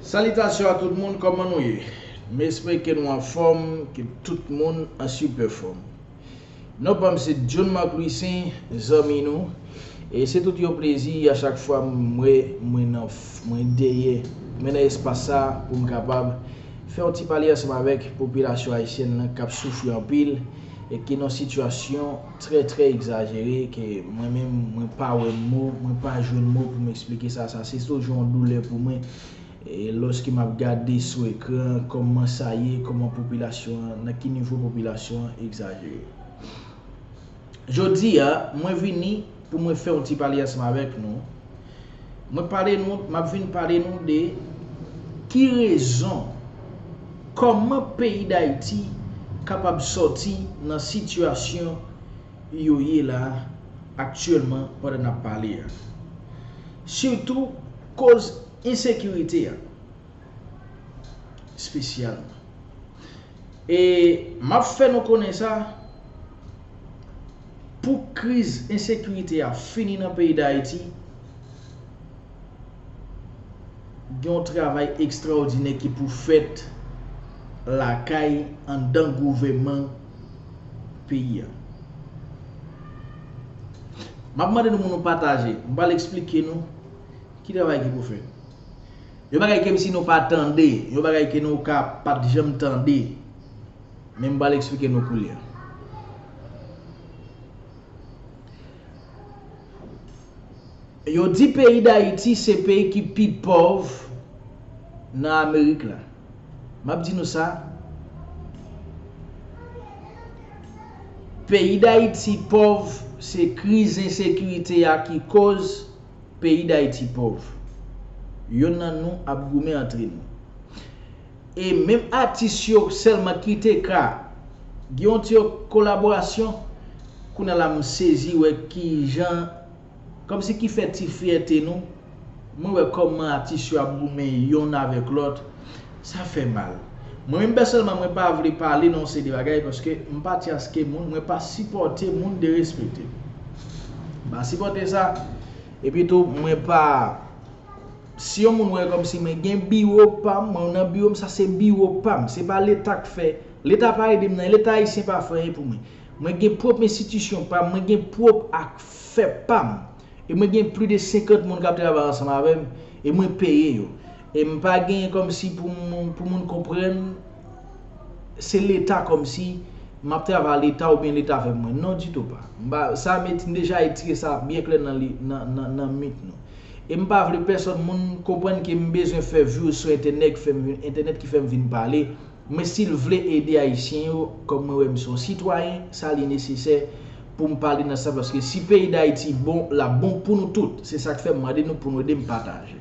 Salitasyon a tout moun kòman nou ye m espre ke nou anfòm ke tout moun an sipè fòm non pam se John Marc Louissaint zanmi nou e se tout yon plezi a chak fwa m wè mwen nan mwen dèyè mwen nan espas sa pou m kapab fè yon ti pale ansanm avèk popilasyon ayisyèn lan kap soufri anpil e ki nan sitiyasyon trè trè egzajere ke mwen menm mwen pa wè mo, mwen pa jwenn mo pou m eksplike sa, sa se toujou yon doulè pou mwen lòske m ap gade sou ekran kòman sa ye, kòman popilasyon an, nan ki nivo popilasyon an egzajere. Jodi a, mwen vini pou mwen fè yon ti pale ansanm avèk nou. Mwen pale nou, map vin pale nou de ki rezon, kòman peyi Dayiti kapab sòti nan sitiyasyon yo ye la aktyèlman pandan nap pale a. Sitou koz ensekirite a espesyalman. E m ap fè nou konnen sa, pou kriz ensekirite a fini nan peyi Dayiti, gen yon travay ekstraòdinè ki pou fèt lakay, anndan gouvèman peyi a. M ap mande nou pou nou pataje, m pral esplike nou ki travay ki pou fèt. Yon bagay kem si nou pa tande, yon bagay ke nou ka pat janm tande, men m pral eksplike nou koulye a. Yo di peyi Dayiti se peyi ki pi pòv nan Amerik la. M ap di nou sa, peyi Dayiti pòv se kriz ensekirite a ki koz Peyi Dayiti pòv. Yonn nan nou ap goumen antre nou. E menm atis yo sèlman ki te ka gen yon ti kolaborasyon, kounye la m sezi wè ki jan, kòm si ki fè ti fyète nou, mwen wè kòman atis yo ap goumen yonn avèk lòt. Sa fè mal. Mwen menm pèsonèlman mwen pa vle pale nan yon seri de bagay paske m pa tyaske moun, mwen pa sipòte moun derespekte. M pa sipòte sa. Epi tou mwen pa si yon moun wè kòmsi mwen gen biwo pa m, mwen nan biwo m sa se biwo pa m. Se pa leta k fè, leta pa ede m nan, leta ayisyen pa fè anyen pou mwen. Mwen gen pwòp enstitisyon pa m, mwen gen pwòp afè pa m. E mwen gen pli de 50 moun kap travay ansanm avèm e mwen peye yo. E m pa gen kòmsi pou moun pou moun konprann se leta kòmsi map travay leta oubyen leta fè mwen. Non ditou pa. M pa sa m et m deja etire sa byen klè nan li nan nan mint nou. E m pa vle pèsòn moun konprann ke m bezwen fè vues sou entènèg fèm entènèt ki fèm vin pale. Men sil vle ede ayisyen yo kòm mwen wèm son sitwayen sa li nesesè poum pale nan sa paske si peyi dayiti bon lap bon pou nou tout se sak fèm mande nou pou nou edem pataje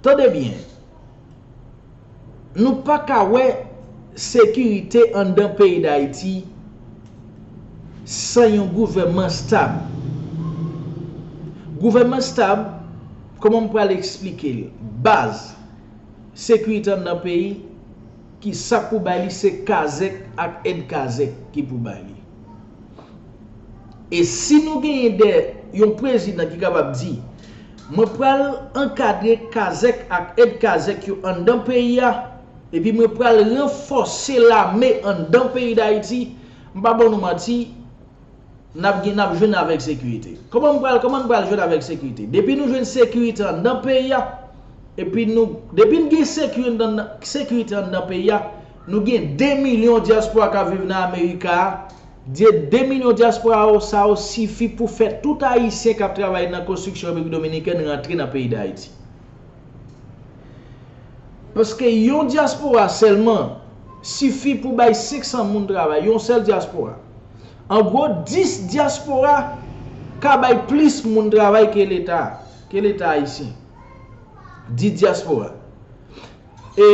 tande byen nou paka wè sekirite andan peyi dayiti san yon gouvèman stab gouvèman stab kòman m pral esplikel baz. sekirite anndan peyi ki sak pou bay li se kazek ak èd kazek ki pou bay li e si nou genyen dè yon prezidan ki kapab di mwen pral ankadre kazek ak èd kazek yo anndan peyi a epi mwen pral ranfòse lame anndan peyi dayiti m pa ban nou manti Nap gen nap jwenn avèk sekirite. Koman m pral koman n pral jwenn avèk sekirite. Depi nou jwenn sekirite anndan peyi a epi nou depi n gen sekiri anndan sekirite anndan peyi a nou gen 2 milyon dyaspora k ap viv nan amerika a de 2 milyon dyaspora yo sa yo sifi pou fè tout ayisyen k ap travay nan konstriksyon repiblik dominikèn rantre nan peyi dayiti. Paske yon dyaspora sèlman sifi pou bay 500 moun travay, yon sèl dyaspora. An gwo, 10 dyaspora ka bay plis moun travay ke leta, ke leta ayisyen. 10 dyaspora. E,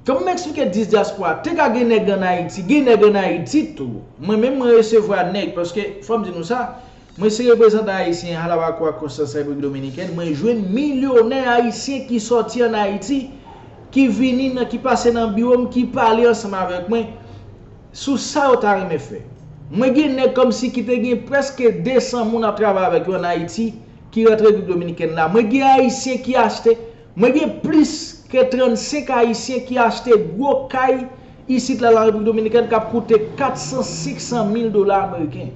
kòm m eksplike 10 dyaspora, te ka gen nèg an Ayiti, gen nèg an Ayiti tou. Mwen menm mwen resevwa nèg, paske fò m di nou sa, Mwen se reprezantan Ayisyen Halawakuwa Konstan sa Repiblik Dominikèn, mwen jwenn milyonè Ayisyen ki sòti an Ayiti, ki vini nan ki pase nan biwo m ki pale ansanm avèk mwen sou sa yo ta renmen fè. Mwen gen nèg kòmsi ki te gen prèske 200 moun ap travay avèk yo an Ayiti ki rantre Repiblik Dominikèn la, mwen gen Ayisyen ki achte, mwen gen plis ke 35 Ayisyen ki achte gwo kay isit la lan Repiblik Dominikèn k ap koute 400, 500 mil dola ameriken.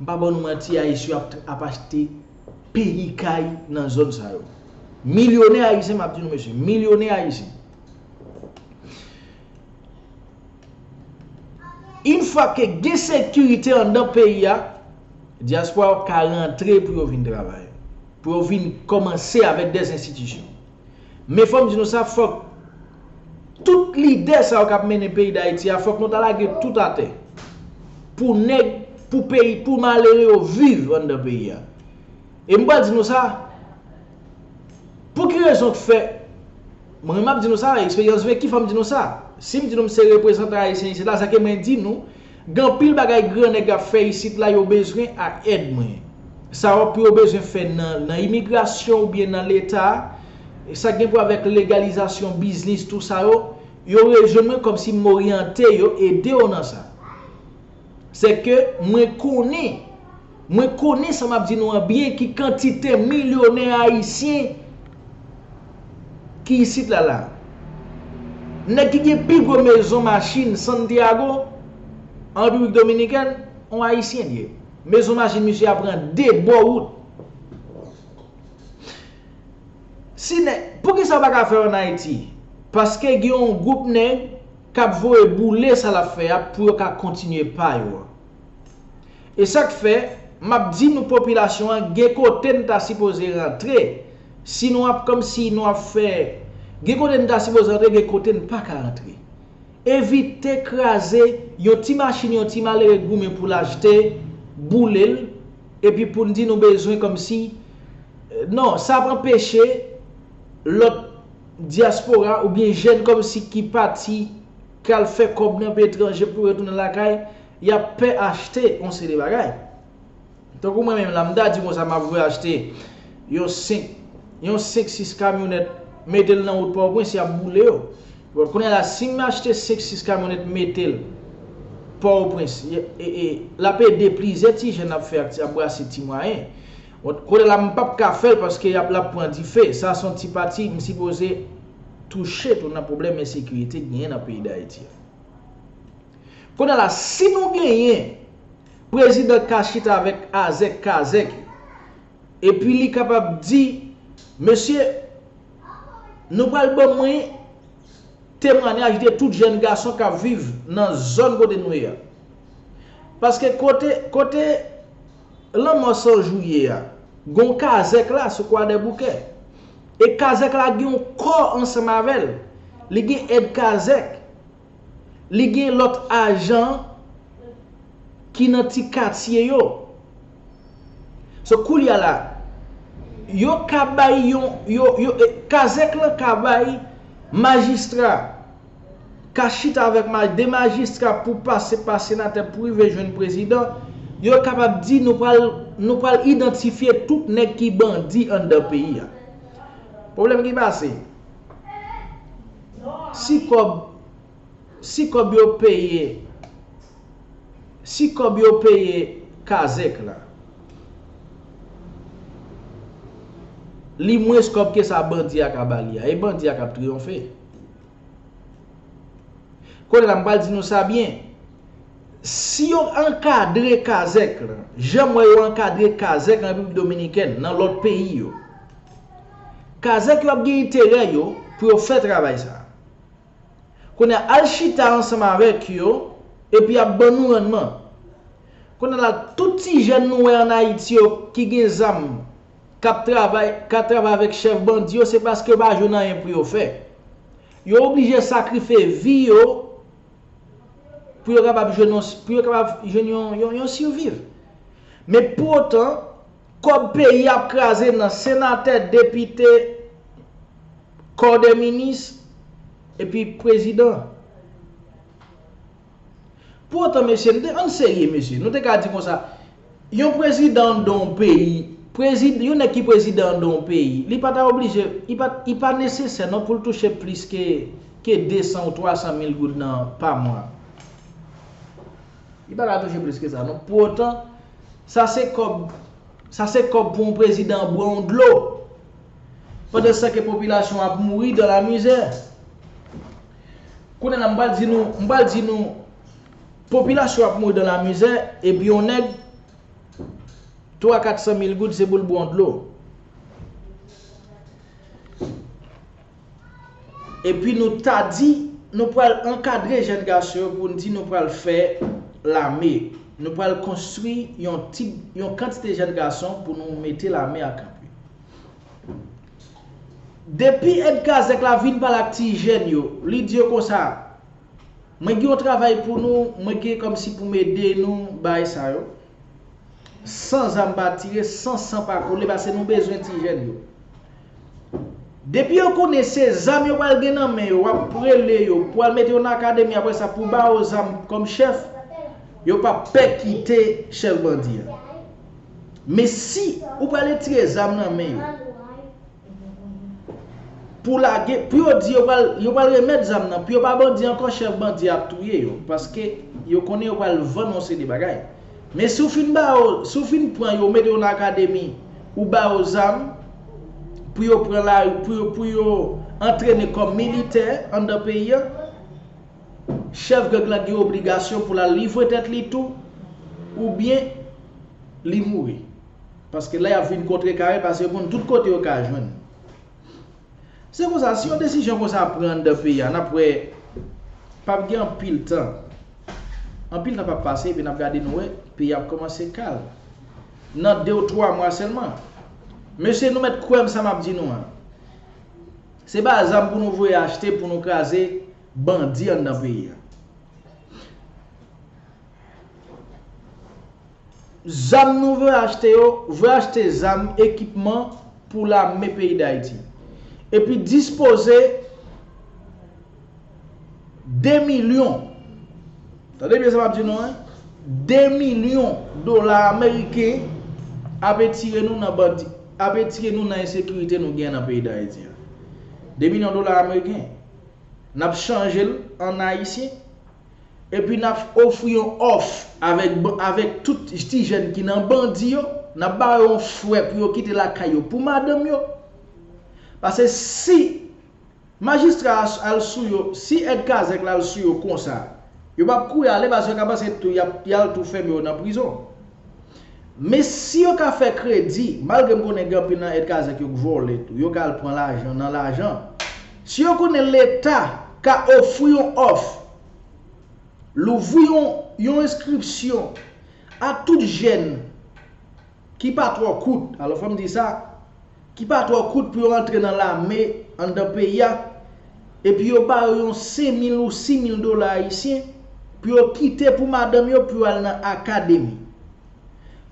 M pa ba nou manti ayisyo ap achte peyi kay nan zòn sa yo. Milyonè ayisyen map di nou mesye, milyonè ayisyen. Yn fwa ke gen sekirite andan peyi a, dyaspora yo ka rantre pou yo vin travay. Pou yo vin kòmanse avèk dèz enstitisyon. Men fòm di nou sa fòk tout lidè sa yo kap mennen peyi dayiti a fòk nou ta lage tout atè pou nèg pou peyi pou malere yo viv anndan peyi a e m pral di nou sa pou ki rezon k fè mwen map di nou sa eksperyans veki fòm di nou sa si m di nou m se reprezantan ayisyen isit la sa ke mwen di nou Gen anpil bagay gran nèg ap fè isit la yo bezwen ak èd mwen. Sa wap pou yo bezwen fè nan nan imigrasyon ou byen nan leta, sa gen pou avèk legalizasyon biznis tou sa yo, yo rejwenn mwen kòmsi m oryante yo ede yo nan sa. Sèke mwen konnen. Mwen konnen sa map di nou an byen ki kantite milyonè ayisyen ki isit la la. Nèg ki gen pi gwo mezon machin Santiago an Repiblik Dominikèn, on ayisyen li ye. Mezon machin misye a pran 2 bò wout. Si nèg, poukisa yo pa ka fè an Ayiti? Paske gen on gwoup nèg kap voye boule sa lap fè a pou yo ka kontinye pa yo an. E sak fè map di nou popilasyon an gen kote n ta sipoze rantre si nou ap komsi nou ap fè gen kote n ta sipoze rantre gen kote n paka rantre evite kraze yon ti machin yon ti malere goumen pou l achte boule l epi pou n di nou bezwen komsi non sa ap anpeche lòt dyaspora oubyen jèn komsi ki pati kal fè kòb nan peyi etranje pou retounen lakay. Y ap pè achte yon seri de bagay. Tankou mwen menm la, m ta di konsa m ap vwe achte yon 5, yon 5, 6 kamyonèt, mete l nan wout Pòtoprens, y ap boule yo. Bon, kounye a la, si m achte 5, 6 kamyonèt mete l Pòtoprens, l ap ede plizyè ti jèn ap fè, ap brase ti mwayen. Bon, kounye a la, m pa p ka fè l paske y ap, l ap pran dife. Sa se yon ti pati m sipoze touche tou nan pwoblèm ensekirite ki genyen nan peyi Dayiti a. Kounye la si nou genyen prezidan ka chita avèk azèk kazèk yo epi li kapab di mesye nou pral ban mwen temwanyaj de tout jèn gason k ap viv nan zòn kote nou ye a paske kote kote lanmò san jou ye a gen yon kazèk la sou kwadèboukè e kazèk la gen yon kò ansanm avè l li gen èd kazèk Li gen lòt ajan ki nan ti katye yo. So koulye a la, yo ka bay yon, yo, yo, kazèk lan ka bay majistra, ka chita avèk ma, 2 majistra pou pase pa senatè pou rive jwenn prezidan, yo kapab di nou pral, nou pral idantifye tout nèg ki bandi anndan peyi a. Pwoblèm ki pase? Si kòb si kòb yo peye si kòb yo peye kazèk la li mwens kòb ke sa bandi a ka ba li a e bandi a k ap triyonfe kounye la m pral di nou sa byen si yo ankadre kazèk la jan m wè yo ankadre kazèk an repiblik dominikèn nan lòt peyi yo Kazèk yo ap gen enterè yo pou yo fè travay sa a. Kounye a, al chita ansanm avèk yo epi y ap ban nou rannman. Kounye a la, tout ti jèn nou wè an Ayiti yo ki gen zam k ap travay ka travay avèk chèf bandi yo se paske yo pa jwenn anyen pou yo fè. Yo oblije sakrife vi yo pou yo kapab jwenn yon siviv. Men pou otan. Kob peyi ap kraze nan senatè depite kò dè minis epi prezidan. Pou otan mesye nou te ann serye mesye nou te ka di konsa yon prezidan an dan yon peyi prezid yon nèg ki prezidan an dan yon peyi li pa ta oblije li pa li pa nesesè non pou l touche plis ke ke 200 ou 300 mil goud nan pa mwa. Li pa ka touche plis ke sa non. Pou otan, sa se kòb, sa se kòb pou yon prezidan bwè yon dlo. Pandan san ke popilasyon an ap mouri dan la mizè. Kounye la m pral di nou, m pral di nou, popilasyon ap mouri dan la mizè, epi yon nèg, 3 400 mil goud se pou l bwè yon dlo. Epi nou ta di nou pral ankadre jèn gason yo pou n di nou pral fè lame. Nou pral konstwi yon ti yon kantite jèn gason pou nou mete lame a kanpe. Depi èd kazèk la vin pale ak ti jèn yo, li di yo konsa, Mwen gen yon travay pou nou, mwen gen kòmsi pou m ede nou bay sa yo. San zam pa tire, san san pa koule, pase nou bezwen ti jèn yo. Depi yo konnen se zam yo pral gen nan men yo wap prele yo pou al mete yo nan akademi aprè sa pou ba yo zam kòm chèf yo pap pè kite chèf bandi a men si ou pral etire zam nan men yo pou lage pou yo di yo pral remèt zam nan pou yo pa bandi ankò chèf bandi a ap touye yo paske yo konnen yo pral vann yon seri de bagay. Men si w fin ba yo, si w fin pran yo, ou mete yo nan akademi, ou ba yo zam, pou yo pran lari, pou yo, pou yo antrene kòm militè anndan peyi an, chèf gang lan gen obligasyon pou l al livre tèt li tou, oubyen li mouri. Paske la y ap vin kontrekare, paske yo konn tout kote yo ka jwenn. Se konsa si yon desizyon konsa pran anndan peyi a nap wè pap gen anpil tan anpil tan pap pase epi nap gade nou wè peyi a ap kòmanse kal nan 2 ou 3 mwa sèlman mesye nou mèt kwèm sa map di nou an se pa zam pou nou voye achte pou nou kraze bandi anndan peyi a. Zam nou vle achte yo, vle achte zam, ekipman pou lame peyi Dayiti. Epi dispoze 2 milyon, tande byen sa map di nou an, 2 milyon dola ameriken ap etire nou nan bandi, ap etire nou nan ensekirite nou gen nan peyi Dayiti an. 2 milyon dola ameriken, nap chanje l an ayisyen? Epi n ap ofri yon òf avèk avèk tout ti jèn ki nan bandi yo, n ap ba yo yon frè pou yo kite lakay yo pou madanm yo. Pase si Majistra a al sou yo, si èd kazèk la al sou yo konsa, yo p ap kouri ale pase yo ka panse tou y ap y al tou fèmen yo nan prizon. Men si yo ka fè kredi, malgre m konnen gen anpil nan èd kazèk yo k vòlè tou, yo ka al pran lajan nan lajan. Si yo konnen leta ka ofri yon òf, louvri yon yon enskripsyon a tout jèn ki pa twò kout, alò fò m di sa, ki pa twò kout pou yo antre nan lame anndan peyi a, epi yo ba yo yon 5 mil ou 6 mil dola ayisyen pou yo kite pou madanm yo pou yo al nan akademi.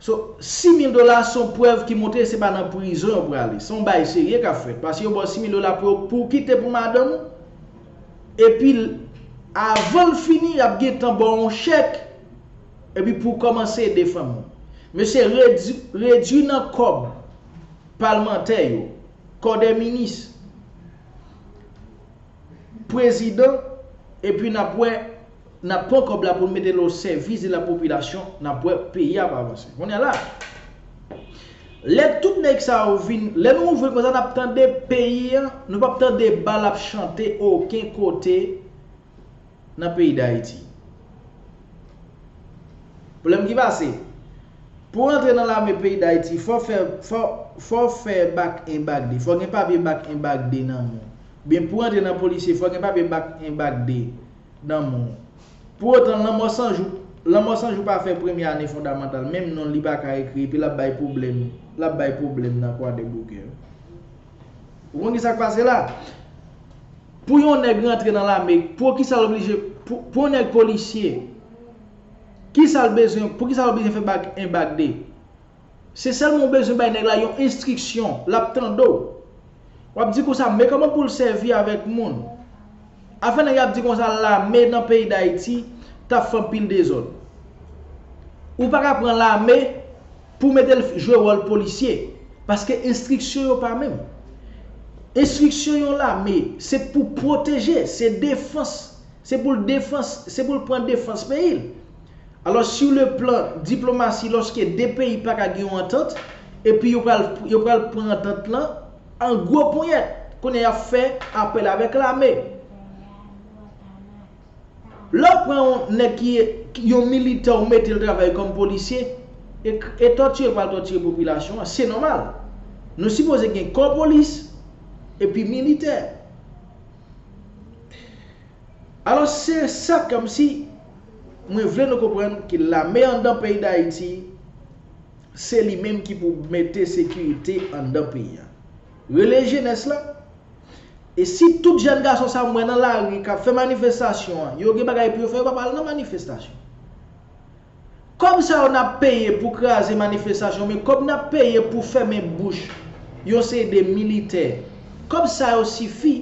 So, 6 mil dola a se yon prèv ki montre se pa nan prizon yo prale. Se yon bagay serye k ap fèt, paske yo ba w 6 mil dola pou yo pou w kite pou madanm ou, epi avan l fini y ap gentan ba w yon chèk. Epi pou kòmanse ede fanmi w. Mesye redwi redwi nan kòb palmantè yo, kò dè minis, prezidan epi nap wè nap pran kòb la poun metel o sèvis de la popilasyon nap wè peyi ap avanse. Kounye la lè tout nèg sa yo vin lè nou ouvri konsa nap tande peyi an nou pap tande bal ap chante oken kote. nan peyi Dayiti. Pwoblèm ki pase, pou rantre nan lame peyi Dayiti fò fè fò fè bak en bak de, fò gen papye bak en bak de nan men w. Oubyen pou rantre nan polisye fò gen papye bak en bak de nan men w. Pou otan lanmò san jou lanmò san jou pa fè premye ane fondamantal menm non li pa ka ekri epi l ap bay pwoblèm l ap bay pwoblèm nan kwadèboukè. Ou konn kisa k pase la? Pou yon nèg rantre nan lame, pou kisa l oblije, pou yon nèg polisye, kisa l bezwen, pou kisa l oblije fè bag 1 bag 2? Se sèlman ou bezwen bay nèg la yon enstriksyon, l ap tande w. W ap di konsa, men kòman pou l sèvi avèk moun. Afè nèg ap di konsa lame nan peyi dayiti tap fè anpil dezòd. Ou pa ka pran lame pou mete l jwe wòl polisye paske enstriksyon yo pa menm. Enstriksyon yon lame se pou pwoteje, se defans, se pou l defans, se pou l pran defans peyi l. Alòs sou le plan diplomasi lòske 2 peyi pa ka gen yon antant epi yo pral pran antant lan, An gwo ponyèt, kounye a y ap fè apèl avèk lame. Lè w pran yon nèg ki yon militè ou mete l travay kòm polisye, e tòtire pral tòtire popilasyon an, se nòmal. Nou sipoze gen kò polis epi militè. Alò se sa kòmsi mwen vle nou konprann ke lame anndan peyi Dayiti Se li menm ki pou mete sekirite anndan peyi a. Rele jenès la. E si tout jèn gason sa mwen nan lari kap fè manifestasyon an yo gen bagay pou yo fè yo pap al nan manifestasyon. Kòb sa yo nap peye pou kraze manifestasyon men kòb nap peye pou fèmen bouch yon seri de militè kòb sa yo sifi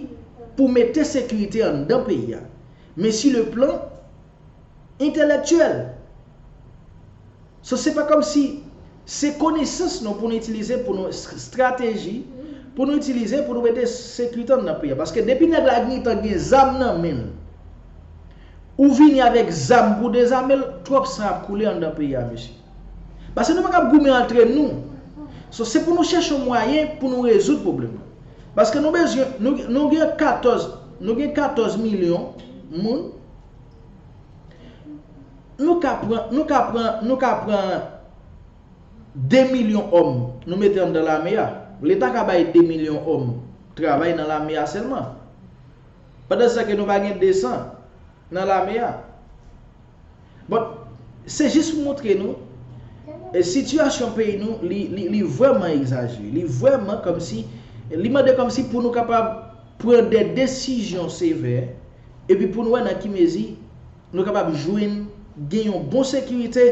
pou mete sekirite anndan peyi a. Men si le plan. Entèlèktyèl. So se pa kòm si se konesans nou pou nou itilize pou nou strateji pou nou itilize pou nou mete sekirite nan peyi a. Paske depi nèg la gntan gen zam nan men l, ou vini avèk zam pou dezame l, twòp san ap koule anndan peyi a mesye. Pase nou pa kab goumen antre nou. So se pou nou chèche yon mwayen pou nou rezoud pwoblèm nan. Paske nou bezwen, nou gen 14, nou gen 14 milyon moun. Nou ka pran, nou ka pran, nou ka pran 2 milyon òm nou mete anndan lame a. Leta ka bay 2 milyon òm travay nan lame a sèlman. Pandan sa ke nou pa gen 200 nan lame a. Bon, se jis pou montre nou, sitiyasyon peyi nou li vrèman egzajere. Li vrèman kòmsi, li mande kòmsi pou nou kapab pran de desizyon sevè. epi pou n wè nan ki mezi nou kapab jwenn gen yon bon sekirite,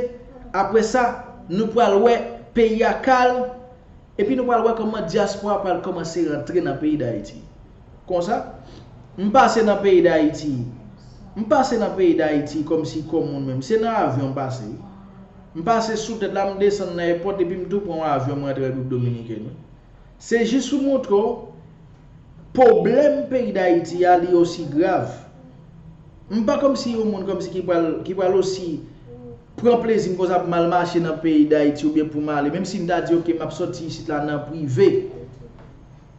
apre sa nou pral wè peyi a kalm epi nou pral wè kòman dyaspora pral kòmanse rantre nan peyi Dayiti. Konsa, m pase nan peyi Dayiti, m pase nan peyi Dayiti kòmsi kò moun menm, se nan avyon m pase wi. M pase sou tèt la, m desann nan èpòt epi m tou pran yon avyon m rantre Repiblik Dominiken wi. Se jis pou m montre w Poblèm peyi dayiti a li osi grav. M pa komsi yon moun komsi ki pral ki pral osi pran plezi m konsa pou m al mache nan peyi dayiti oubyen pou m ale menm si m ta di ok m ap soti isit la nan prive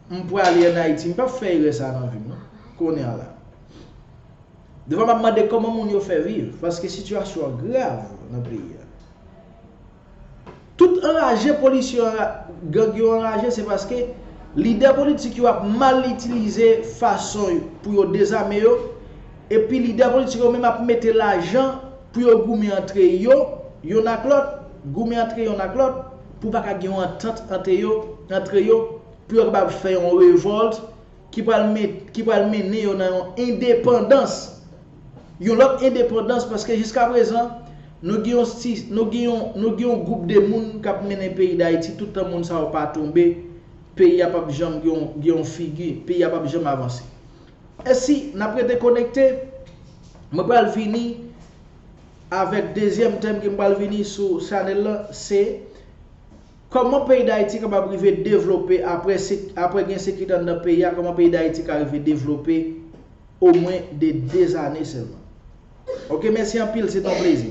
m prale an ayiti m pap fè erè sa nan vi m non kounye a la. Defwa m ap mande kòman moun yo fè viv paske sitiyasyon an grav nan peyi a. Tout anraje polis yo gang yo anraje se paske lidè politik yo ap mal itilize fason pou yo dezame yo epi lidè politik yo menm ap mete lajan pou yo goumen antre yo yonn ak lòt goumen antre yonn ak lòt pou pa ka gen yon antant ante yo antre yo pou yo kapab fè yon revòlt ki pral ki pral mennen yo nan yon endepandans yon lòt endepandans paske jiska prezan nou gen yon sti nou gen yon nou gen yon gwoup de moun kap mennen peyi dayiti tout tan moun sa yo pa tonbe peyi a pap janm gen yon gen yon figi peyi a pap janm avanse e si nap rete konekte mwen pral vini avèk dezyèm tèm ke m pral vini sou chanèl lan se kòman peyi dayiti kapab rive devlope apre se apre gen sekirite anndan peyi a kòman peyi dayiti ka rive devlope omwen de 2 ane sèlman. Ok mèsi anpil se t on plezi.